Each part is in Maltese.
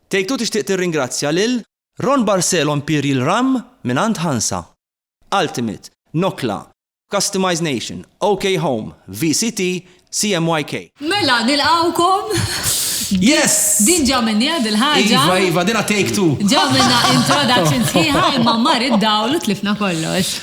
Tgħid u tixtieq tirringrazzja lil. Ron Barcelo Imperial Rhum mingħand Hansa. Ultimate, Nokla, Customize Nation, OK Home, VCT, CMYK. Mela nilqgħukom. Yes! Din ġa minnija dil-ħaġa. Iva, iva, dina take two. Ġa minna introduction sħiħa imma mar id-dawl u tlifna kollox.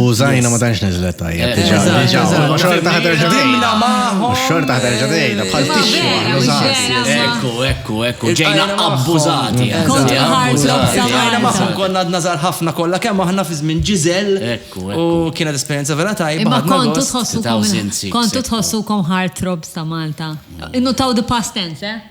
U zajna ma tanx nizlet tajjeb. Xorta taħdar ġadejna. Xorta taħdar ġadejna. Bħal tixxu abbużati. Ekku, ekku, ekku. Ġejna abbużati. Ġejna maħħom konna għadna zar ħafna kollha kemm aħna fi żmien ġiżel. Ekku, ekku. U kienet esperjenza vera tajba. Imma kontu tħossukom kontu tħossukom heartthrobs ta' Malta. Innu taw the past tense, eh?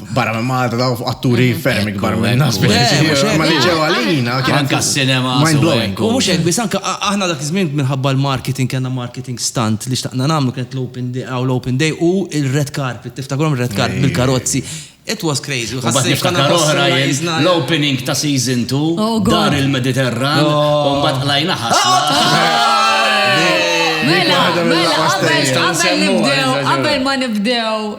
barra minn Malta daw fuq atturi mhm. ferm ikbar minn nas biex ma li ġew għalina kien anka s-sinema mind blowing. U mhux hekk biss anke aħna dak iż-żmien minħabba l-marketing kellna marketing stunt li xtaqna nagħmlu kienet l-open day aw l-open day u il-red carpet tiftakrhom red carpet bil-karozzi. It was crazy. Għassi niftakar oħra l-opening ta' season 2 dar il-Mediterran u mbagħad qlajna ħasla. Mela, mela, qabel nibdew, qabel ma nibdew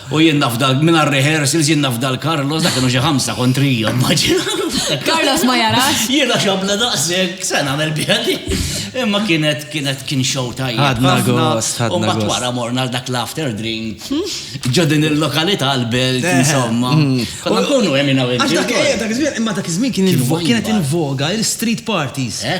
U jien naf dal minn rehearsals jien naf dal Carlos dak kienu xi ħamsa kontrija immaġina. Carlos ma jarax. Jiena xabla daqshekk se nagħmel bjadi. Imma kienet kienet kien show tajjeb. Ħadna gost, ħadna. U mbagħad wara morna dak l-after drink. Ġo din il-lokalità l-belt eh. insomma. Mm. Konna nkunu hemm Imma dak iż-żmien kien kienet invoga il-street parties. Eh?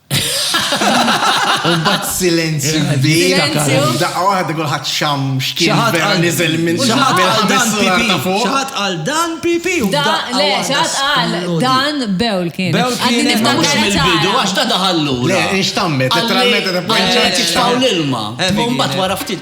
U bat silenzju kbir. Daqqa waħda kulħadd xam xkien vera niżel minn xaħat għal dan pipi. Le, xaħat għal dan bewl kien. Bewl kien mux mill-bidu għax ta' daħallu. Le, inxtammet, letteralment ta' panċa. Għax l-ilma. Umbat wara ftit.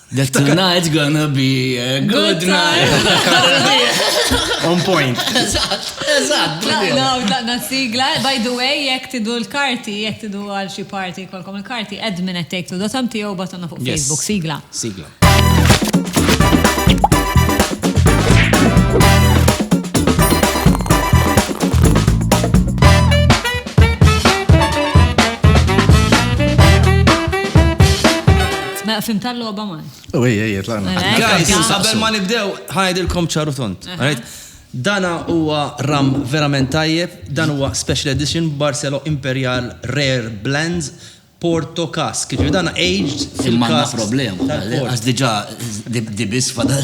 The tonight's gonna be a good night. On point. Eżatt, eżatt. Tlaqna u tlaqna sigla. By the way, jek tidu l-karti, jek tidu għal xi parti kolkom il-karti, admin at take to dotam tiegħu batonna fuq Facebook sigla. Sigla. Mela fim tal-logħba man. U ej, ej, tlaqna. Mela, ej, Guys, tlaqna. qabel ma nibdew, ħajdilkom ċaru tont. Aha. Alright? Dana huwa ram verament tajjeb, dan huwa special edition Barcelo Imperial Rare Blends Porto Cask. Jiġifieri dana aged Imma għandna fil-casks problema, tal-port. għax diġà di di biss fadal.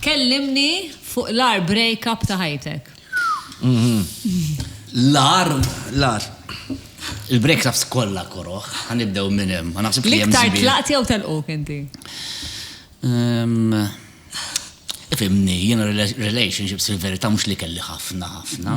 Kellimni fuq l-agħar break-up ta' ħajtek. L-agħar? L-agħar. Il-break-ups kollha koroh, ħa nibdew minn hemm, ma naħsibx li hemm żball. L-iktar tlaqt jew telquk inti? Ifhimni, jiena relationships fil-verità mhux li kelli ħafna ħafna.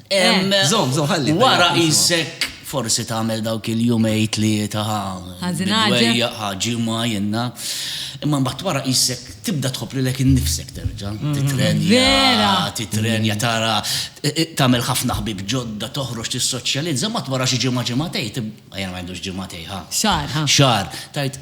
Zom, zom, ħalli. Wara jissek forsi tagħmel dawk il-jumej tlieta ħaġi ħaġi ma jenna. Imma mbagħad wara jissek tibda tħobb lilek innifsek terġa'. Mm. Titrenja, titrenja tara tagħmel ħafna ħbib ġodda toħroġ tissoċjalizza ma wara xi ġimgħa ġimgħatej jien ma għandux ġimgħatej ħa. Xar. Xar. Tajt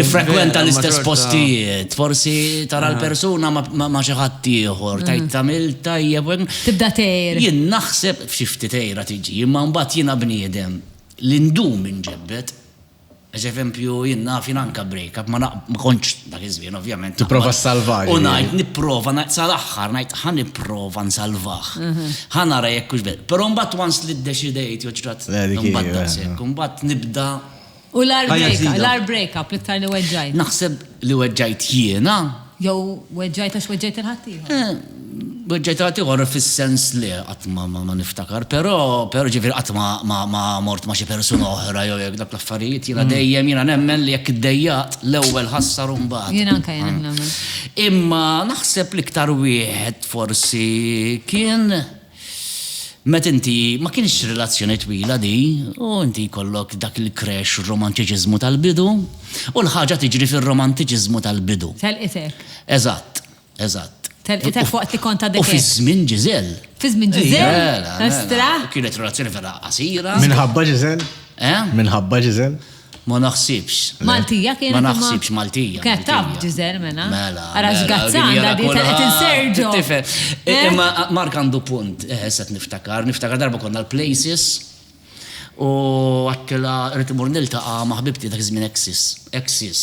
Tifrekwenta l-istess postijiet, forsi tara ah. l-persuna ma xi ħadd ieħor, tajt mm. tagħmel tajjeb. Tibda tgħir. Jien naħseb f'xi ftit tgħira tiġi, imma mbagħad jiena bniedem li ndum inġebbet. Eż eżempju, jien naf jien anka break up, ma kontx dak iż-żmien ovvjament. Tipprova salvar. U ngħid nipprova sal-aħħar ngħid ħa nipprova nsalvah. Mhm. Ħa nara jekk hux Però mbagħad once li ddeċidejt joġrat mbagħad eh. mbagħad nibda U l-ar Ħajja break, ġdida. l-ar break up l-iktar li weġġajt. Naħseb li weġġajt jiena, Jew weġġajt għax weġġajt il-ħaddieħor. eh, weġġajt għal ieħor fis-sens li qatt ma ma ma niftakar, però però ġifieri qatt ma ma ma mort ma' xi persuna oħra jew jekk dak l-affarijiet jiena dejjem jiena nemmen li jekk iddejjaqt l-ewwel ħassar u mbagħad. Jien anke jien hekk nemmen. Imma naħseb l-iktar wieħed forsi kien Meta inti, ma kienx relazzjoni twila di, u inti jkollok dak il-crash romantiċiżmu tal-bidu, u l-ħaġa tiġri fir-romantiċiżmu tal-bidu. Telqitek. Eżatt, eżatt. Telqitek waqt li kont għadek hekk. U fi żmien Giselle. Fi żmien Giselle? Estrah! Kienet relazzjoni vera qasira. Minħabba Giselle? Eh? Minħabba Giselle? Ma naħsibx. Maltija kienet. Ma naħsibx Maltija. Kienet taf b'diżel mela. Mela. Ara x'gazzan għandha di qed inserġu. Tifhem. Imma Mark għandu punt, issa qed niftakar, niftakar darba konna l-Places u għedtilha rrid immur niltaqa' ma' ħbibti dak iż-żmien Exis. Exis.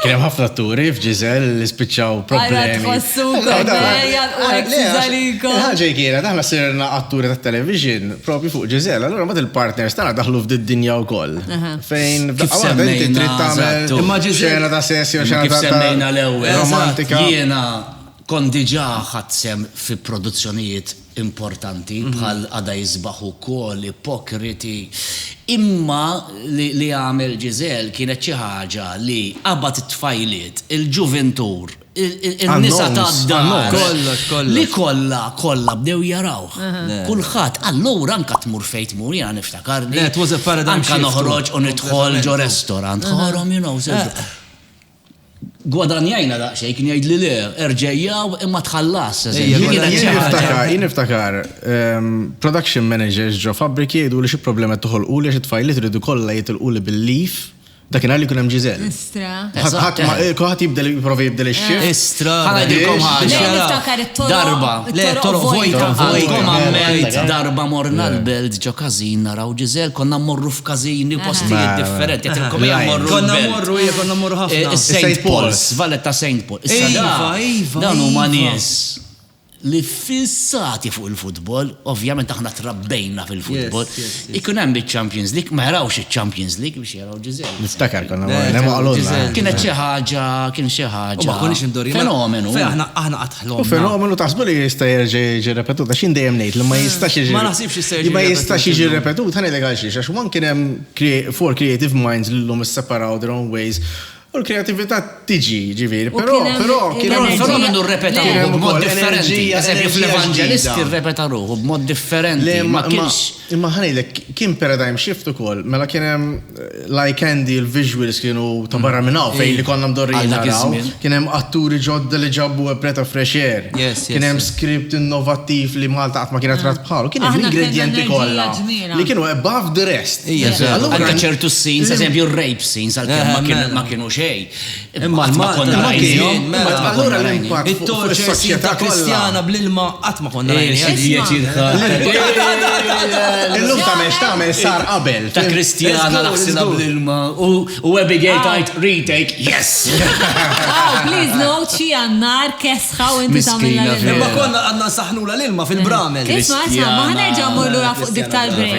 Kien hemm ħafna atturi f'Ġiżel li spiċċaw problemi. Ara tħossukom ejja u hekk tiżalikom. Il-ħaġa kienet aħna sirna atturi tat-television propju fuq Ġiżel, allura mbagħad il-partners tagħna daħlu f'din dinja wkoll. Fejn f'daqqa waħda inti trid tagħmel imma Ġiżel ta' sess jew xi ħaġa semmejna l-ewwel. Romantika. Jiena kont diġà ħadt sehem fi produzzjonijiet importanti bħal għada isbaħ ukoll ipokriti imma li għamel Giselle kienet xi ħaġa li qabad it-tfajliet, il-ġuvintur, in-nisa tad-dar li kollha kollha bdew jarawh. Kulħadd, allura anke tmur fejn tmur jiena niftakar li anke noħroġ u nidħol ġo restorant ħorhom you know. Gwadanjajna daqsxejn, kien jgħidli le, erġajjaw imma tħallas. Jien niftakar production managers ġo fabbriki jgħiduli xi problema qed toħolquli għax it-tfajliet iridu kollha jitilquli bil-leave dakinhar li jkun hemm ġiżel. Istra. Ħadd ma kulħadd jibdel jipprova jibdel ix-xi. Istra. Ħa ngħidilkom ħaġa. Niftakar it-toroq. Darba. Le, toroq vojta. Vojkom għamilt darba morna l-belt ġo każin naraw. Hawn Giselle konna mmorru f'każini u postijiet differenti. Għedtilkom aħna mmorru l-belt. Konna mmorru, ija konna mmorru ħafna. Is-Saint Paul's, Vallet ta' Saint Paul. Issa da, dawn huma nies li fissati fuq il-futbol, ovvjament aħna trabbejna fil-futbol. Ikun hemm iċ-Champions League, ma jarawx iċ-Champions League biex Niftakar konna morna ma qalulna. Kienet xi ħaġa, kien xi ħaġa. Ma konniex indorju. Fenomenu. Aħna aħna qatt ħlomna. Fenomenu taħsbu li jista' jerġa' jiġi repetut għax jien dejjem ngħid li ma jistax jiġi. Ma naħsibx jista' jiġi. Ma jistax jiġi repetut, ħa ngħidlek għal xiex għax one kien hemm four creative minds li llum isseparaw their own ways U l-kreativita tiġi, ġivir, pero, pero, kien hemm però minnu rrepeta ruħu b'mod differenti. Eżempju, fl-Evangelisti rrepeta ruħu b'mod differenti. Ma kienx. Imma ħanejlek, kien paradigm shift ukoll, mela kien hemm eh, like Andy l-visuals kienu ta' barra minn hawn fejn li konna mdorri naraw. Kien hemm atturi ġodda li ġabu preta fresh air. Kien hemm script innovattiv li Malta qatt ma kienet rat bħalu. Kien hemm ingredienti kollha li kienu above the rest. Għandha ċertu scenes, eżempju, rapes. Tin sal-kem ma kienu ma kienu xej. Imma ma konna rajnijom. Allura l-impatt it-torċ is-soċjetà kristjana bl-ilma qatt ma konna rajnijom. Illum ta' mex ta' mex sar qabel. Ta' kristjana naħsina bl-ilma u Abigail tajt retake, yes! Oh, please no, xi għannar kesħa u inti tagħmilna l-ilma. Imma konna għandna saħnula l-ilma fil-bramel. Isma' isma' ma ħanerġa' mmur lura fuq dik tal-break.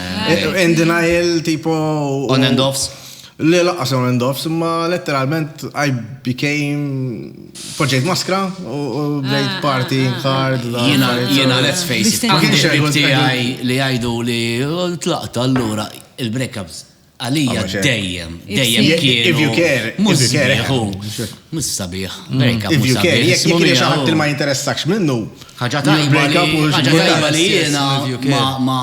In denial, tipo. On and offs. Le laqqas on and offs, imma letteralment I became. Poġġejt maskra u bdejt party hard. Jena, jena, let's face it. Għandi xibib tijaj li għajdu li tlaqta allura il-breakups Għalija dejjem, dejjem kienu. If you care, mhux sabiħ. Mhux sabiħ. If you care, jekk jekk jekk xaħat li ma jinteressakx minnu. Ħaġa tajba li jiena ma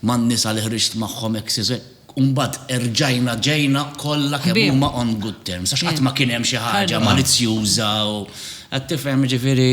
ma nisa li ħriġt magħhom hekk siżek. Umbagħad erġajna ġejna kollha kemm huma on good terms. Għax qatt ma kien hemm xi ħaġa malizzjuża u qed tifhem ġifieri.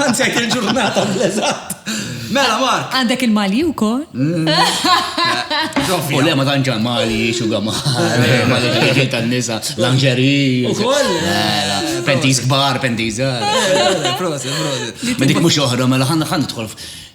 Għanzek il-ġurnata bl-eżat. Mela, Mark. Għandek il-mali u kol? U le, ma tanġa mali, xuga mali, mali ġiġi tal-nisa, lanġeri. U kol? Mela, pentiz kbar, pentiz. Prosit, prosit. Ma dik mux oħra, mela ħanna ħanna tħolf.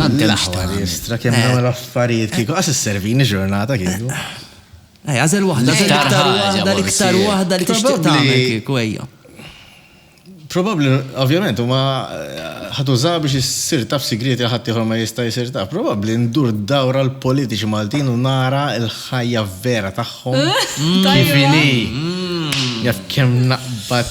Tant l-aħħar jistra kemm eh. dawn l-affarijiet kieku qas is-servini ġurnata kieku. Ej, għażel waħda, l-iktar waħda, l-iktar waħda li tixtieq tagħmel kieku ejja. Probabbli, ovvjament, huma eh, ħatuża biex issir taf sigrieti ħadd ieħor ma jista' jsir taf. Probabbli ndur dawra l-politiċi Maltin u nara l-ħajja vera tagħhom. Tajjeb. Jaf kemm naqbad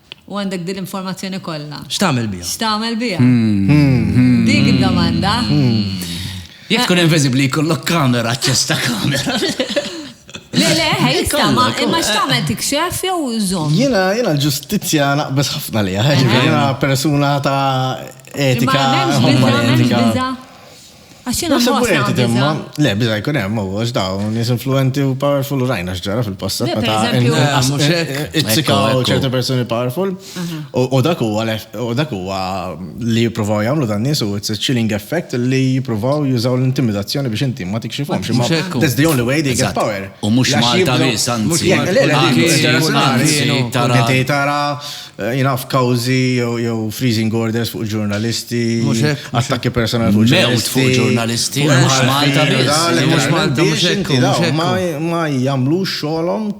U għandek din l-informazzjoni kollha. X'tagħmel biha? X'tagħmel biha? Dik id-domanda. Jekk tkun inviżibbli jkollok kamera, aċċess ta' kamera. Le, le, ħej, ma imma x'tagħmel tikxef jew żomm. Jiena jiena l-ġustizzja naqbeż ħafna liha, jiena persuna ta' etika. Ma hemmx biża, hemmx biża. Għaxina Nasib u għed demma, le, bizza jkun hemm, u għax daw, nis influenti u powerful u rajna xġara fil-passat. Meta itzikaw ċerti personi powerful, u dak huwa u dak huwa li jippruvaw jagħmlu dan nies u it's a chilling effect li jippruvaw jużaw l-intimidazzjoni biex inti ma tikxifhomx. That's the only way they get power. U mhux Malta biss, anzi. Tara Jien naf kawżi jew freezing orders fuq ġurnalisti. Mhux hekk. Attakki personali fuq ġurnalisti. Mewt fuq ġurnalisti. Mhux Malta biss. Mhux Malta mhux hekk. Ma jagħmlux xogħolhom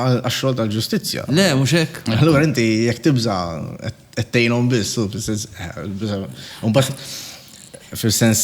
għax-xogħol tal-ġustizzja. Le, mhux hekk. Allura inti jekk tibża' qed tgħinhom biss, fis-sens, imbagħad fis-sens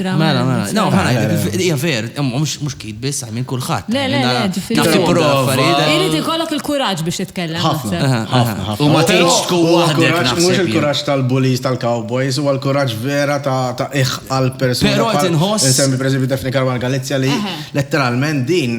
Mela, mela, no, ħana, mela, mela. hija ver, mhux kid biss, għajmin kulħadd. Le, le, le, ġifieri. Irid ikollok il-kuraġġ biex titkellem. Ħafna, U ma tgħidx tkun waħdek naħseb. Mhux il-kuraġġ tal-bullies tal-cowboys, huwa l-kuraġġ vera ta' iħ għal persuna. Però qed inħoss. Insemmi pereżempju Daphne Karwan Galizja li letteralment din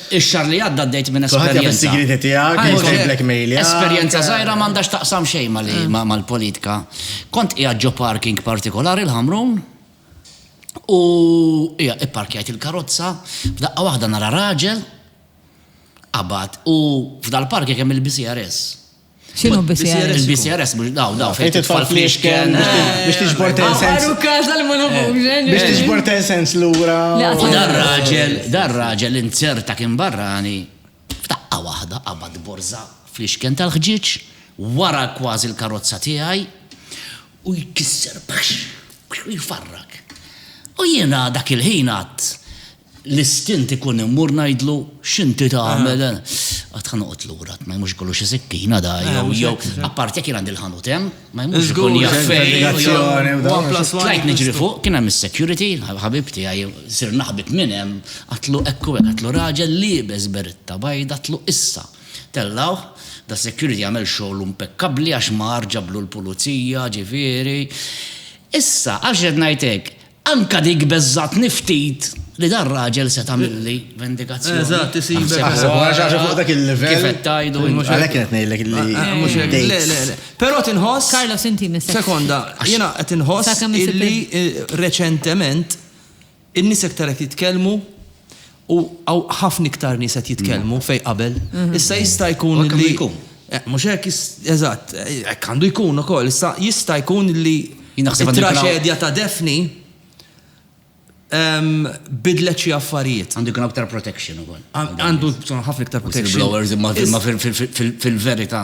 Ix-xahar li għadda għaddejt minn esperjenza. Kulħadd jaf is-sigrieti tiegħek, mhux tiblackmailja. Esperjenza żgħira m'għandha x'taqsam xejn mal-politika. Kont qiegħed ġo parking partikolari l-Ħamrun u hija ipparkjajt il-karozza, f'daqqa waħda nara raġel qabad u f'dal-parking hemm il-BCRS. Xinu BCRS? Il-BCRS, mux daw, daw, fejn titfall fl-iexken. Biex tiġbor ten sens. Għaru kaza li ma nafux, Biex tiġbor ten sens l-ura. U dar raġel, dar raġel inzerta kien barrani, f'taqqa wahda qabad borza fl-iexken tal-ħġiċ, wara kważi l-karozza tiegħi, u jkisser, u jfarrak. U jiena dak il-ħin għad, L-istint ikun immur ngħidlu x'inti tagħmel, għad ħa noqgħod lura, għad ma jmurx ikollu xi sikkina da, jew jew apparti jekk jien għandi l-ħanut hemm, ma jmurx ikun jaf fejn. Tlajt niġri fuq, kien hemm is-security, ħabib tiegħi, sirna ħbieb minn hemm, għadtlu hekk u hekk, għadtlu raġel liebes beretta bajda, għadtlu issa. Tellgħuh, da security għamel xogħlu impekkabbli għax mar ġablu l-pulizija, ġifieri. Issa, għax qed ngħid hekk, Anke dik beżgħatni ftit li dan raġel se tagħmilli vendikazzjoni. Eżatt, isibek. Għax fuq dak il-livell. Kif qed tgħidu. Għalhekk qed ngħidlek li. Mhux hekk. Le, le, le. Però tinħoss. Carlos inti nisek. Sekonda, jiena qed inħoss li reċentement in-nies aktar qed jitkellmu U hawn ħafna iktar nies qed jitkellmu fejn qabel. Issa jista' jkun li. U hekk għandu jkun. Mhux hekk, eżatt, hekk għandu jkun ukoll. Issa jista' jkun li. Jien naħseb għandu jkun. It-traġedja ta' Daphne bidlet xi affarijiet. Għandu jkun hawn iktar protection ukoll. Għandu jkun ħafna iktar protection. Whistleblowers imma fil-verità.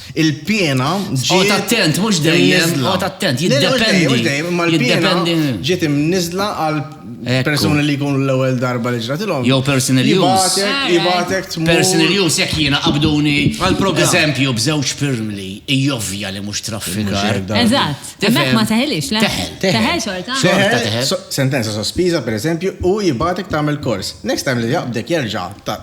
il-piena ġiet. Għot attent, mux dejjem. Għot attent, jiddependi. Mux dejjem, ma l-piena ġiet imnizla għal persuni li jkunu l-ewel darba li ġratilom. Jow personal use. Jibatek tmur. Personal use, jek jena qabduni. Għal-program. Eżempju, bżewġ firm li jovja li mux traffikar. Eżat. Teħel ma teħelix, le? Teħel. Teħel xorta. Teħel. Sentenza sospiża, per eżempju, u jibatek tamel kors. Next time li jaqbdek jerġa,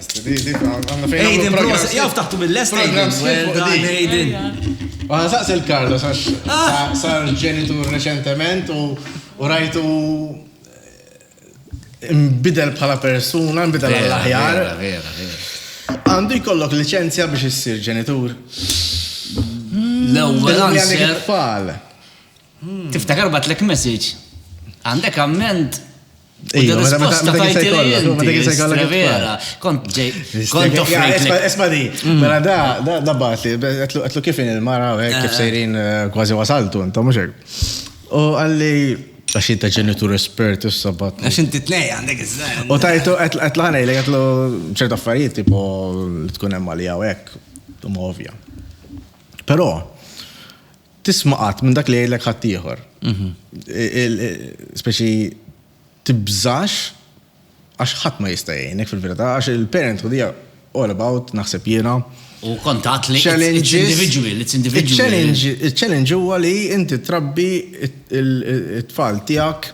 Aiden, proset, jaf taħtu mill-lest, Aiden. Well done, Aiden. Għana saqs il-Karlo, sax ah! sar ġenitur reċentement u rajtu eh, imbidel bħala persuna, imbidel għall-aħjar. Għandu jkollok licenzja biex issir ġenitur. L-ewwel għandek Tiftakar batlek message. Għandek amment Esma di, mela da, da bat li, għetlu kif il-mara, kif sejrin kważi wasaltu, intom muxek. U għalli, għax inta ġenitur espert, issa bat. Għax inti t-nej għandek iż-żajn. U tajtu, għetlu għanej, li għetlu ċertu affarijiet, tipo, tkun emma li għawek, u ma ovja. Pero, tisma' qatt minn dak li jgħidlek ħaddieħor. Speċi tibżax għax ħadd ma jista' jgħinek fil-verità għax il-parenthood hija all about naħseb jiena. U kontat li individual, it's individual. Il-challenge huwa li inti trabbi it-tfal tiegħek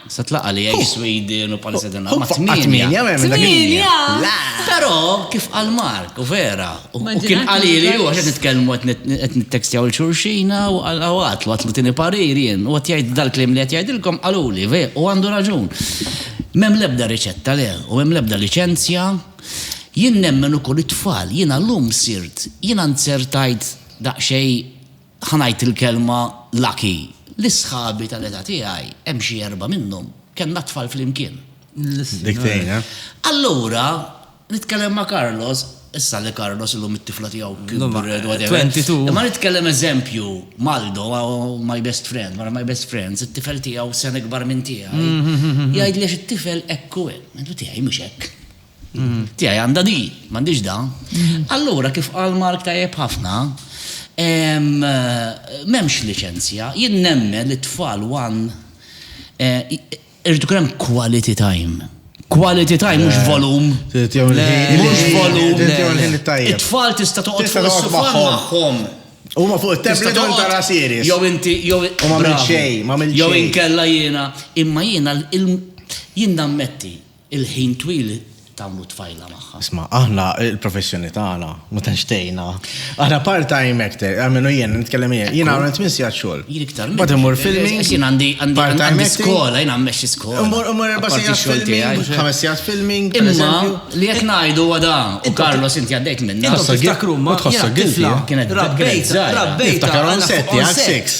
Se tlaqa' li jgħix Swidi u Nepali se tingħaqad ma' tmienja. Tmienja! Però kif qal Mark, u vera, u kien qalili hu għax qed nitkellmu qed nittekstjaw 'il xulxina u għatlu, għatlu tieni parir jien, u qed jgħid dal-kliem li qed jgħidilkom qaluli, u għandu raġun. M'hemm l-ebda riċetta le, u m'hemm l-ebda liċenzja. Jien nemmen ukoll it-tfal, jiena llum sirt, jiena nzertajt daqsxejn Ħa ngħid il-kelma lucky li sħabi tal-età tiegħi, hemm xi erbgħa minnhom, kellna t-tfal flimkien. Dik tgħin, eh? Allura, nitkellem ma' Carlos, issa li Carlos illum it-tifla tiegħu kibret, whatever. Imma nitkellem eżempju m'Aldo, my best friend, one of my best friends, it-tifel tiegħu sena ikbar minn tiegħi, jgħidli għax it-tifel hekk hu hemm. Ngħidlu tiegħi mhux hekk. Tiegħi għandha di, m'għandix da. Allura kif qal Mark tajjeb ħafna, m'hemmx liċenzja. Jien nemmen li t-tfal one irid ikun hemm quality time. Quality time mhux volum. Mhux volum. It-tfal tista' toqgħod fuq is-sofa magħhom. Huma fuq it-tablet u tara series. Jew inti jew ma minn xejn, ma minn xejn. Jew inkella jiena, imma jiena jien nammetti Il-ħin twil tagħmlu tfajla magħha. Isma', aħna il-professjoni tagħna ma tantx tgħinna. Aħna part-time actor, għamilu jien, nitkellem jien. Jien għamil tmien sigħat xogħol. Jien iktar. Bad imur filmi. Jien għandi għandi skola, jien għammex skola. Imur imur erba' sigħat filmi, ħames sigħat filmi. Imma li jekk ngħidu għada u Carlos inti għaddejt minna. Tħossok tiftakru ma tħossok tifla. Kienet rabbejt, rabbejt. Tiftakar on set, jgħak six.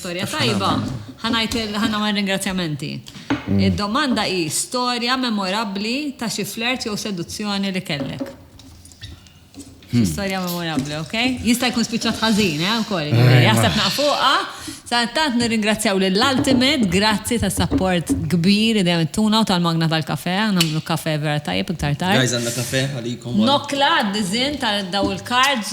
Storja tajba, ħanajt ħana ma' ringrazzjamenti. Mm. Id-domanda hi storja memorabbli ta' xi flert jew seduzzjoni li kellek. Hmm. Storja memorabbli, ok? Jista' jkun spiċċat ħażin, eh, wkoll. Eh, jaħseb naqfuqa. Sa tant nirringrazzjaw lill ultimate grazzi ta' support kbir li dejjem tuna u tal-magna tal-kafe, nagħmlu kafe vera tajjeb iktar tard. Guys għandna kafe għalikom. Nokla għad-dizin tal-daw il-cards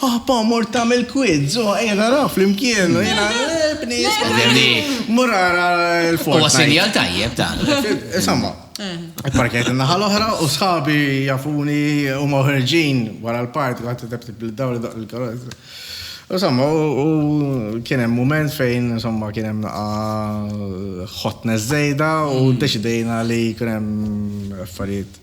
Paapa, mort tagħmel quiz, u ejja naraw flimkien, u jiena, le, bnies, fimni, mur ara l-Fortnite. Huwa sinjal tajjeb dan. Insomma, ipparkjajt in-naħa l-oħra u sħabi jafuni huma ħerġin wara l-party, kulħadd itep tip lid-dawl idoqq il-karozza. Insomma, u kien hemm mument fejn, insomma, kien hemm naqa' hotness żejda u ddeċidejna li jkun hemm affarijiet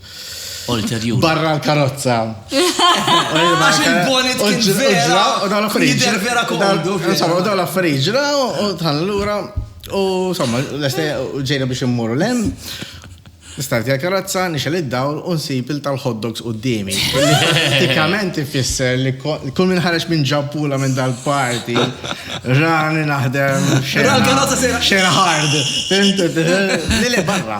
Ulterjur. Barra l-karozza. Għax il-bonnet kien vera. U dawn l-affarijiet. vera komdu. Insomma, u dawn l-affarijiet ġraw u tħan l-ura. U insomma, l-estaj ġejna biex immorru l-em. Nistarti għal-karozza, nixel id-dawl, unsib il tal hotdogs u d-dimi. Pratikament ifisser li kull minn ħareġ minn ġampula minn dal-parti, rani naħdem xena. Xena hard. Li li barra.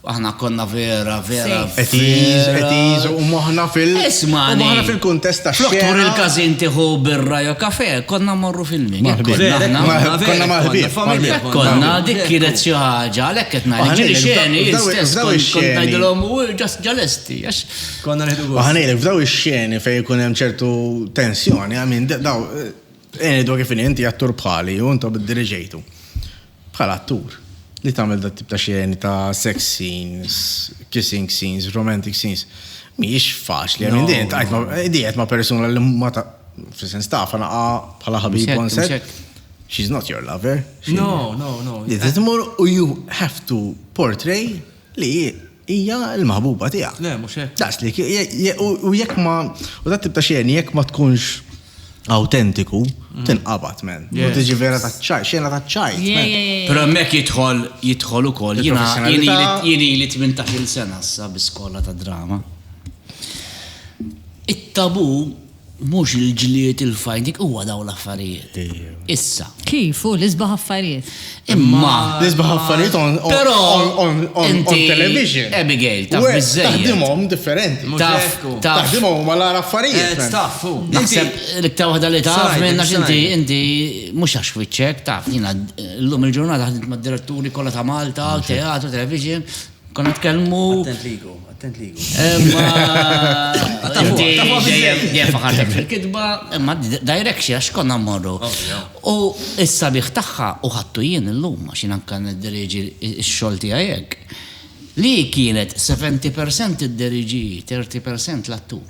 Aħna konna vera, vera. Qed iż, qed iż, u moħħna fil- Isma'. u moħħna fil-kuntest tax-xena. Flok tmur il-każin tieħu birra jew kafè, konna mmorru fil-min. Hekk Maħbib. konna aħna. Ma- Konna maħbib. familja Hekk konna. konna, dik kienet xi ħaġa, għalhekk qed ngħid. Aħna Ġieli ngħidlek, xeni, f'daw- jien stess f'daw kont- kont ix-xeni. ngħidilhom u ġas ġalesti, għax Konna neħdu U ħanejlek f'daw ix-xeni fejn ikun hemm ċertu tensjoni, għamin daw, eh, eni dwar kif inhi, inti attur bħali u intom id-diriġejtu. Bħala attur, li tagħmel dat-tip ta' xeni ta' sex scenes, kissing scenes, romantic scenes, mhijiex faċli. I mean, din tqajt ma', din qed ma' persuna li ma ta', fis-sens taf, naqa' bħala ħabib on set. She's not your lover. No, no, no. Li trid tmur u you have to portray. Li hi, hija l-maħbuba tiegħek. Le, mhux hekk. Daqs li u jekk ma u dat tip ta' xeni jekk ma tkunx awtentiku, mm. tinqabad men. U tiġi vera ta' ċaj, xena ta' ċaj. Però hemmhekk jidħol jidħol ukoll jiena jien li 18-il sena sa biskola ta' drama. It-tabu Mhux il-ġlied, il-fajt, dik huwa dawn l-affarijiet. Issa. Kif hu l-isbaħ affarijiet. Imma. L-isbaħ affarijiet on television. Abigail, taf biżżejjed. Taħdimhom differenti. Taf, taf. Taħdimhom huma l-għar affarijiet. Eh, taf, hu. Naħseb l-iktar waħda li taf minn għax inti inti mhux għax fiċċek, taf, jiena llum il-ġurnata ħdimt mad-diretturi kollha ta' Malta, teatru, television, Konna tkellmu. Attent ligu, attent ligu. Dejjem faħartek fil-kitba, imma direction għax konna mmorru. U issa biħ tagħha u ħattu jien illum għax jien anke niddiriġi x-xogħol tiegħi hekk. Li kienet 70% id-diriġi, 30% l-attur.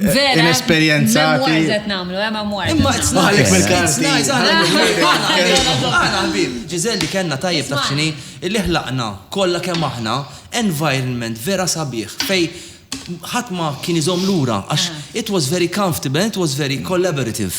Vera. Inesperjenzati. Memoirs qed nagħmlu, eh, memoirs. Imma it's nice. Għalek mill-karti. Nice, għana ħbib. Ġizel li kellna tajjeb taf xini, illi ħlaqna kollha kemm aħna environment vera sabiħ fej ħadd ma kien iżomm lura għax it was very comfortable, it was very collaborative.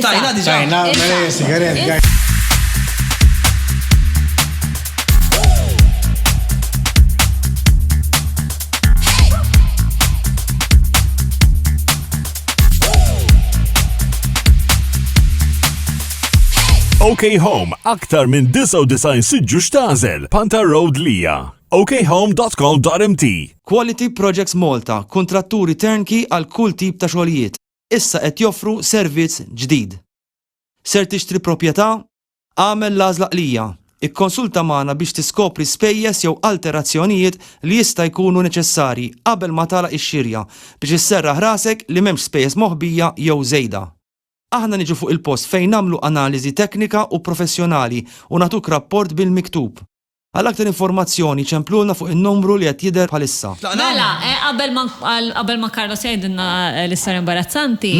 Tajna diġa. Tajna, mela jesi, għarel, għarel. OK Home, aktar minn 99 siġġu xtazel, Panta Road Lija okhome.com.mt Quality Projects Malta, kontratturi turnkey għal kull tip ta' xogħlijiet. issa qed joffru servizz ġdid. Ser tixtri proprjetà? Agħmel l-għażla qlija. Ikkonsulta magħna biex tiskopri spejjeż jew alterazzjonijiet li jista' jkunu neċessarji qabel ma tagħlaq ix-xirja biex isserraħ rasek li m'hemmx spejjeż moħbija jew żejda. Aħna niġu fuq il-post fejn nagħmlu analiżi teknika u professjonali u nagħtuk rapport bil-miktub. Għal aktar informazzjoni ċemplulna fuq in-numru li qed jidher bħalissa. Mela, qabel ma qabel ma Carlos jgħidilna l-istorja imbarazzanti,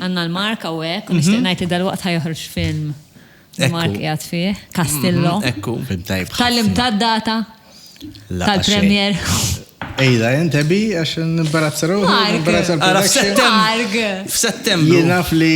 għandna l-Mark hawnhekk u nixtieq ngħid li dalwaqt ħa joħroġ film li Mark qiegħed fih, Castillo. Ekku. Film tajjeb ħafna. Tgħallimtha d-data tal-premier? Ejda, int Abby, għax nimbarazza ruħi, nimbarazza l-production. Mark! F'Settembru. Jien naf li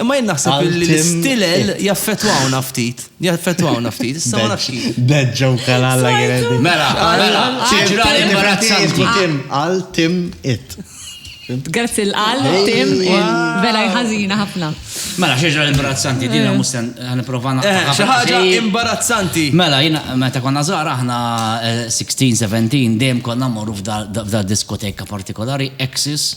Imma jien naħseb li l-istilel jaffetwawna ftit. Jaffetwawna ftit. Issa ma nafx kif. Beġġa u kalalla għiredi. Mela, mela, ġiġra li marazzanti. Tim, għal tim it. Grazzi l-għal, tim, vera jħazina ħafna. Mela, xieġra l-imbarazzanti, dina eh. musten, għan provana. Eh, xaħġa imbarazzanti. Mela, jina, meta konna zara, ħna 16, eh, 17, dem konna morru f'da diskoteka partikolari, Exis,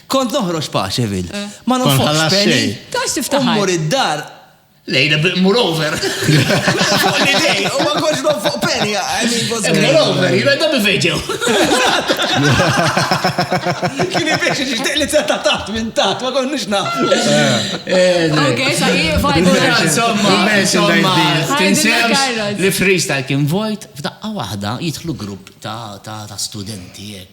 Kont noħroġ Paceville. Ma nonfoqx penny. Tax tiftaħar. U mmur id-dar. Lejla b'mur over. U ma kontx nonfoq penny. Mur over, jina da bivejġew. Kini biex xixtiq li t-setta taħt minn taħt, ma konniex naħt. Ok, sa' jifa. Insomma, insomma, tinsem li freestyle kien vojt, f'daqqa wahda jitħlu grupp ta' studenti.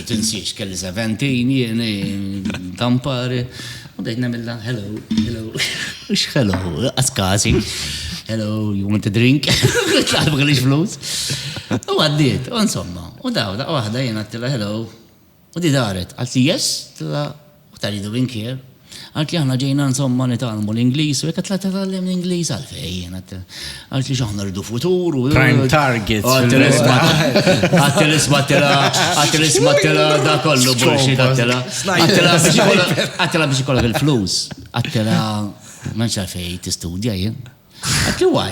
Tinsiex kelli 17 jien tampari. U bdejt nagħmilha hello, hello. Ux hello, as każi. Hello, you want a drink? Tlaħbu kelli flus. U għaddiet, u insomma. U daw, daqqa waħda jien għattila hello. U di daret, għalti yes, tla u ta' Lido Vinkier, Qaltli aħna ġejna insomma nitgħallmu l-Ingliż u jekk tla' titgħallem l-Ingliż għalfejn. Qaltli x'aħna rridu futur u. Prime target. Qaltli isma' qaltli isma' tila qaltli isma' tila da kollu bullshit qaltila. Qaltila biex ikollha qaltila biex ikollha bil-flus. Qaltila ma nxafej tistudja jien. Qaltli why?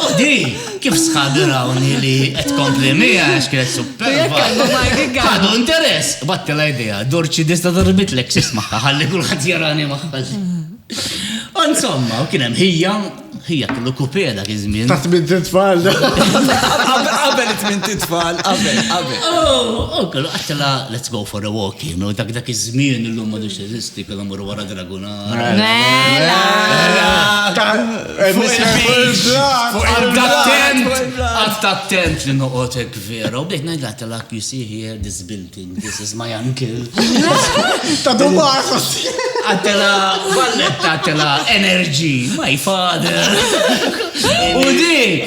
U di, kif sħabi rawni li qed kompli mija għax kienet superba. Għadu interess, batti la idea, dorċi dista darbit l eksis maħħa, ħalli kullħat jarani maħħa. U insomma, u kienem hija, hija kellu kupeda kizmin. Taħt minn titfall. Qabel minn titfall, qabel, qabel. U kellu għattela, let's go for a walk, you know, dak dak iż-żmien illum ma dux eżisti, kellu mur wara Attent li noqotek vera, u bdejt najd għatta l-ak, you see here, this building, this is my uncle. Ta' dumar, Għattela, valletta, għattela, energy, my father. U di,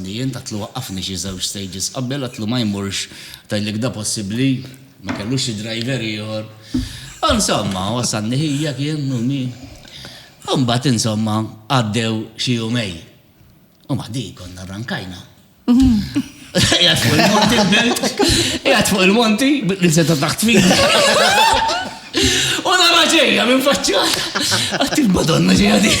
Li jien għedtlu waqqafni xi żewġ stages qabel għedtlu ma jmurx tgħidlek da possibbli ma kellux xi driver ieħor. U insomma wasalni ħija kien u min. U mbagħad insomma għaddew xi jumejn. U ma ħdih konna rrankajna. Qiegħed fuq il-monti l-belt. Qiegħed fuq il-monti bil-insetta taħt fidi. U nara ġejja minn faċċata. Għedt il-Madonna ġejja din.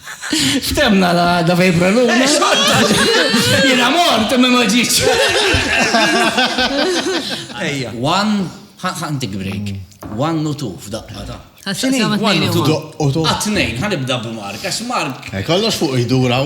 Ftemna la għadda fej praluna. Eh, Jena mort, imma ma ġiċ. Ejja. One, ħantik break. One u two f'daqqa ta' Għatnejn, ħanibda b'Mark, għax Mark. Eh, kollox fuq jduraw.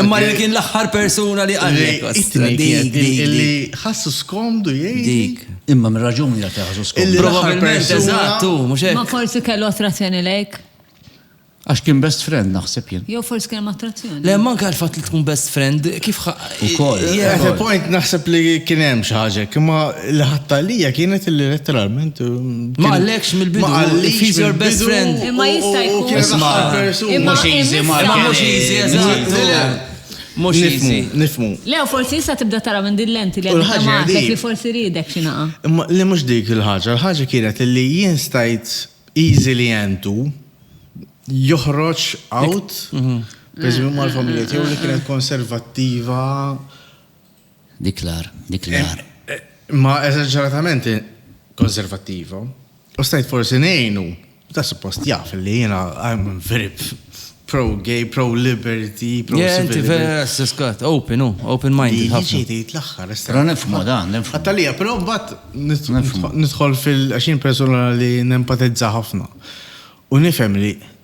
Imma li kien l-aħħar persuna li qalli. Li ħassu skomdu jgħid. Dik. Imma minn raġuni għal ħassu skomdu. Probabilment eżattu, mhux hekk. Ma forsi kellu attrazzjoni lejk. Għax kien best friend naħseb jien. Jew forsi kien attrazzjoni. Le ma nkal fatt li tkun best friend kif ukoll. At a point naħseb li kien hemm xi ħaġa, imma l-ħatta lija kienet li letteralment Ma qallekx mill-bidu, if he's your best friend. Imma jista' jkun. Isma', mhux easy Mark. Mhux easy, eżatt. Mhux easy. Nifhmu. Le, u forsi issa tibda tara minn din l-lenti li qed nagħmellek li forsi riedek xi naqa'. Imma le mhux dik il-ħaġa, il-ħaġa kienet li jien stajt easily and to joħroġ out, pereżempju mal-familja tiegħu li kienet konservattiva. Dik l-agħar, dik l-agħar. Imma eżaġeratament konservattiva. U stajt forsi ngħinu, ta' suppost jaf li jiena I'm very pro-gay, pro-liberty, pro-civil. Jenti vera s-skat, open, u, oh, open mind. Jiġi jtejt l-axħar, Pero nifmu da, nifmu. Għattalija, pero bat nidħol fil-għaxin persona li nempatizza ħafna. U nifem li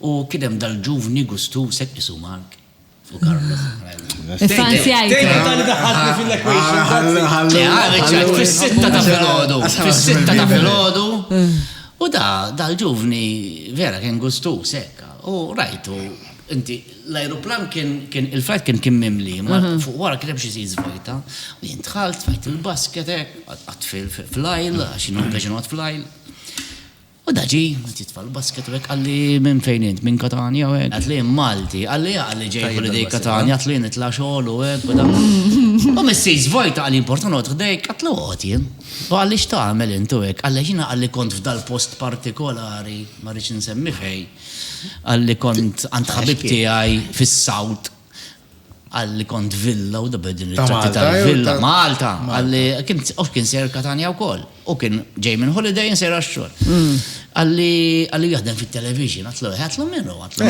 U kien hemm dal-ġuvni gustuż hekk isu Mark u Carlos. Fis-sitta ta' filgħodu, fis-sitta ta' filgħodu. U da dal-ġuvni vera kien gustuż hekk. U rajtu inti l-ajruplan kien il-flight kien kien mimli, ma fuq wara kien hemm xi seats vojta. U jien dħalt, tfajt il-basket hekk, għadt fil-aisle għax jien u l-għeġin noqgħod fl-aisle. U da ġie, qed jitfa' l-basket u hekk, qalli, minn fejn int, minn Katanja u hekk? Għedt li jien Malti. Qalli, ja, qalli ġej holiday Katanja, għedt li jien nitla' xogħol u hekk u da. U missier żvojta, qalli importa noqgħod ħdejk? Għedt li oqgħod jien. U qalli x'tagħmel int u hekk? Qalli għax jiena qalli kont f'dal-post partikolari, ma rridx insemmi fejn, qalli kont għand ħabib tiegħi fis-South, Għalli kont villa u dabed din il-tratti tal-villa. Malta, għalli kien of kien ser Katania u koll. U kien ġej minn holiday in sera xxol. Mm. Għalli għalli jahdem fit-television, għatlu għatlu minnu, għatlu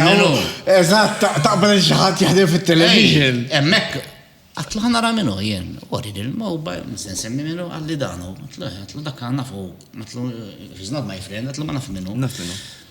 minnu. Eżat, taqbel xaħat jahdem fit-television. Emmek, għatlu ħana ra minnu jien, għori il-mobile, msen semmi minnu għalli danu, għatlu għatlu dak għanna fu, għatlu, he's not my friend, għatlu ma naf minnu. Naf minnu.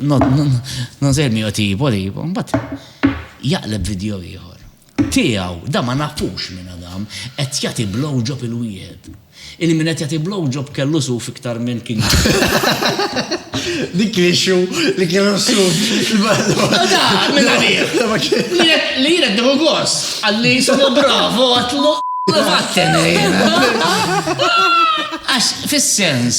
Non ser mio tipo, tipo, mbatt jaqleb video ieħor. Tiegħu, da ma nafux minn Adam, qed jagħti blowjob il-wieħed. Il-min qed jagħti blowjob kellu suf iktar minn kien. Dik li xu, li kienu suf. Da, minn għalih. Li jirek diħu gos, għalli jismu bravo, għatlu. Għax fil-sens.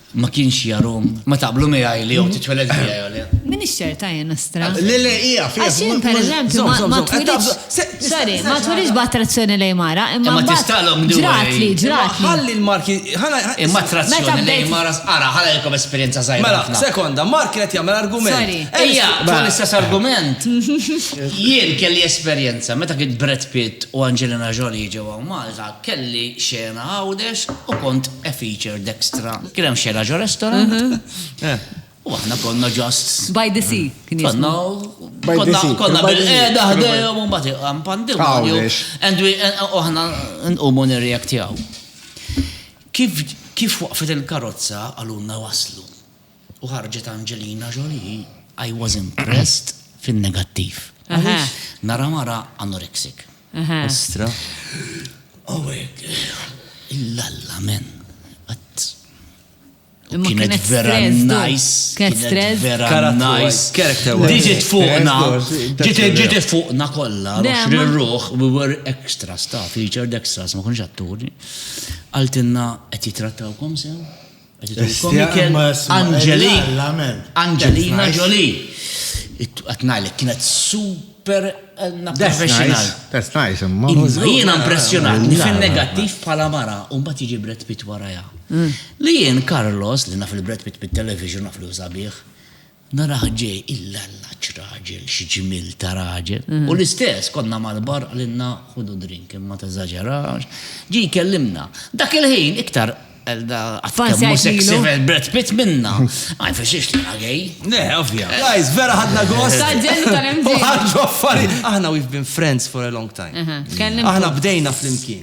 Ma kienx jarom. Ma taqblu miegħi li jew titweled hija jew le. Minix ċerta jien nastra. Le le hija fija. Għax jien pereżempju ma twilidx. Sorry, ma twilidx b'attrazzjoni lejn mara, imma ma tistalhom dwar. Ġratli, ġratli. Ħalli l-marki. Imma attrazzjoni lejn mara ara ħala jkom esperjenza żgħira. Mela, sekonda, Mark qed jagħmel argument. Sorry. Ejja, tul l-istess argument. Jien kelli esperjenza meta kien Brad Pitt u Angelina Jolie ġewwa Malta. Kelli xena Għawdex u kont a feature dextra. Kien hemm xena ġo restaurant u aħna konna just. By the sea kien jismu. Konna konna bil-qeda ħdejhom u mbagħad iqam pandimonju. And we u aħna nqumu nirreactjaw. Kif kif waqfet il-karozza qalulna waslu. u ħarġet Angelina Jolie, I was impressed fin-negattiv. Għaliex? Nara mara anorexic. Ostra. U hekk. Illalla men. Imma kienet Kienet vera stress, du. nice. Kienet stress. vera Character wise, nice. character wise. Diġit fuqna. Ġiet ġiet fuqna kollha. Le, Għax ma- ruħ, we were extra staff, featured extras, ma konx atturi. Qaltilna qed jitrattawkom sew? Angelina Ġoli. Għatnajlek, kienet super għanna professional. That's nice, imma. Jena impressionat li fin negattiv pala mara un bat iġi Brad Pitt waraja. Mm. Li jien Carlos li naf il-Brad Pitt bit-television naf li użabiħ. Narah ġej illalla x'raġel, x'ġmiel ta' raġel. U l-istess, konna mal-bar qalilna ħudu drink imma teżaġerax. Ġie jkellimna. Dak il-ħin iktar Elda qatt kemm hu sexy bħal Brad Pitt minna. Ma jfissirx li jiena gay. Le, ovvja. Guys, vera ħadna gost. Ta' ġenn u tal-imġiba. U ħarġu affarijiet. Aħna we've been friends for a long time. Aħna bdejna flimkien.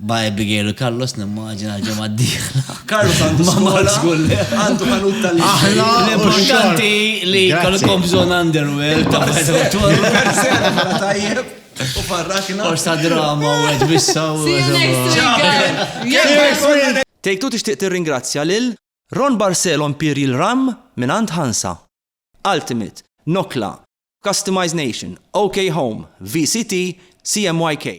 Ma' Abigail u Carlos nimmaġina l-ġemma d-dieħla. Carlos għandu skola. Għandu għandu tal Aħna l-importanti li kolkom bżon underwear. Tajjeb. U farrakna. Forsa drama u għed bissa u għed. Tejtu tixtieq tirringrazzja lil Ron Barcelo Imperial Rum mingħand Hansa, Ultimate, Nokla, Customize Nation, OK Home, VCT, CMYK.